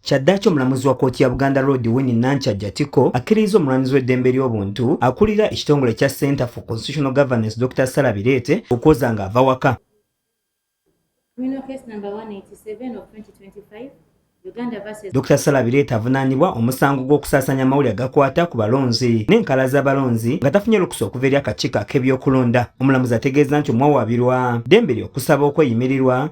Kyaddaaki omulamuzi wa kkooti ya Buganda Road Winnie Nankyajja Tiko akkirizza omulwanizi w'eddembe ly'obuntu akulira ekitongole ekya Center for Constitutional Governance Dokita Sarah Bireete okwoza ng'ava waka. Dokita Sarah Bireete avunaanibwa omusango gw'okusaasaanya amawulire agakwata ku balonzi n'enkala z'abalonzi nga tafunye lukusa okuva eri akakiiko ak'ebyokulonda. Omulamuzi ategeeza nti omuwawaabirwa ddembe lye okusaba okweyimirirwa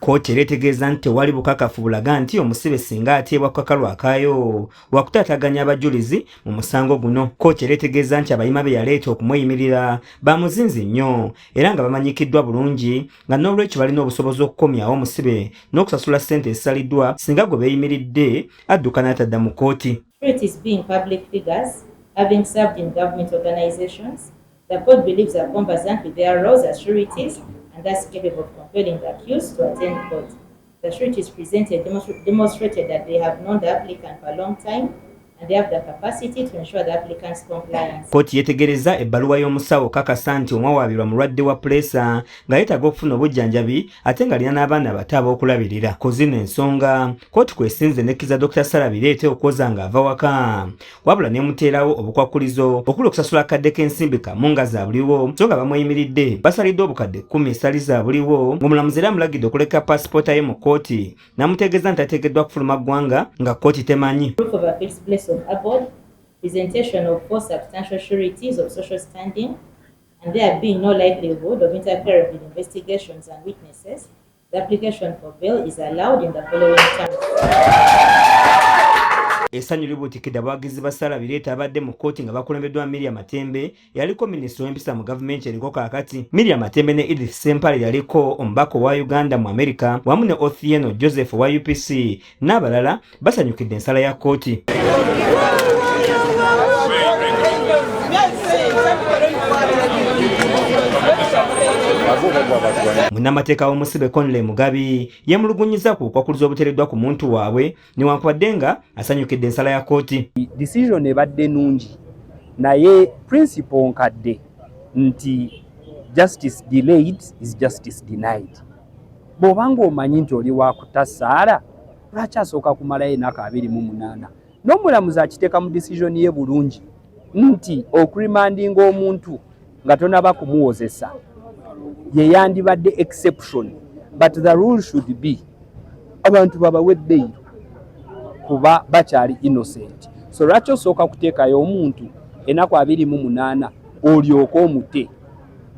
Kkooti era etegeeza nti tewali bukakafu bulaga nti omusibe singa ateebwa ku kakalu akaayo wakutaataganya abajulizi mu musango guno. Kkooti era etegeeza nti abayima be yaleeta okumweyimirira ba muzinzi nnyo era nga bamanyikiddwa bulungi nga n'olwekyo balina obusobozi okukomyawo omusibe n'okusasula ssente ezisaliddwa singa gwe beeyimiridde adduka n'atadda mu kkooti. The court believes that Gomba Zampi bear roles as sureties and thus capable of compelling the accused to attend court. The sureties presented demonstra demonstrated that they have known the applicant for a long time kkooti yetegereza ebbaluwa y'omusawo kakasa nti omwawaabirwa mulwadde wa puleesa nga yeetaaga okufuna obujjanjabi ate ng'alina n'abaana abato ab'okulabirira ku zino ensonga kkooti kwesinze nekkiza dr sara bireete okwoza ng'ava waka wabula nemuteerawo obukwakkulizo okuli okusasula akadde k'ensimbi kamu nga zabuliwo so nga bamweyimiridde basalidde obukadde kkumi esali zabuliwo ng'omulamuzi era amulagidde okuleka paasipoota ye mu kkooti n'amutegeeza nti ateekeddwa kufuluma ggwanga nga kkooti temanyi presentation of four substantial sureties of social standing and there being no likelihood of interfering with investigations and witnesses The application for bail is allowed in the following terms. Essanyu libuutikidde abawagizi ba Sarah Bireeta abadde mu kkooti nga bakulembeddwa Miria Matembe yaliko minisita w'empisa mu gavumenti eriko kaakati. Miria Matembe ne Edith Sempale yaliko omubaka owa Uganda mu Amerika wamu ne Othieno Joseph owa UPC n'abalala basanyukidde ensala ya kkooti munnamateeka w'omusibe conley mugabi yemulugunyiza ku okwakuliza obutereddwa ku muntu waabwe newankubadde nga asanyukidde ensala ya kkooti decision ebadde nungi naye principle nkadde nti justice delayed is justice denied bw'oba ng'omanyi nti oli wakutasaala lwaki asooka kumalayo enaku abiri mu munaana n'omulamuzi akiteeka mu disizoni ye bulungi nti okurimandinga omuntu nga tonaba kumuwozesa yeyandibadde exception but the rule should be abantu babawe beyiro kuba bakyali innocent so lwaki osooka kuteekayo omuntu enaku abiri mu munaana olyoke omute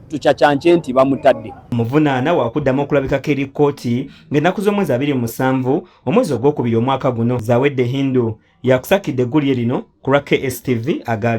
tukyakyanke nti bamutadde omuvunaana wakuddamu okulabikako eri kkooti ng'ennaku z'omwezi abiri musanvu omwezi ogwokubiri omwaka guno zawedde hindu yakusakidde eggulire lino ku lwa kstv agale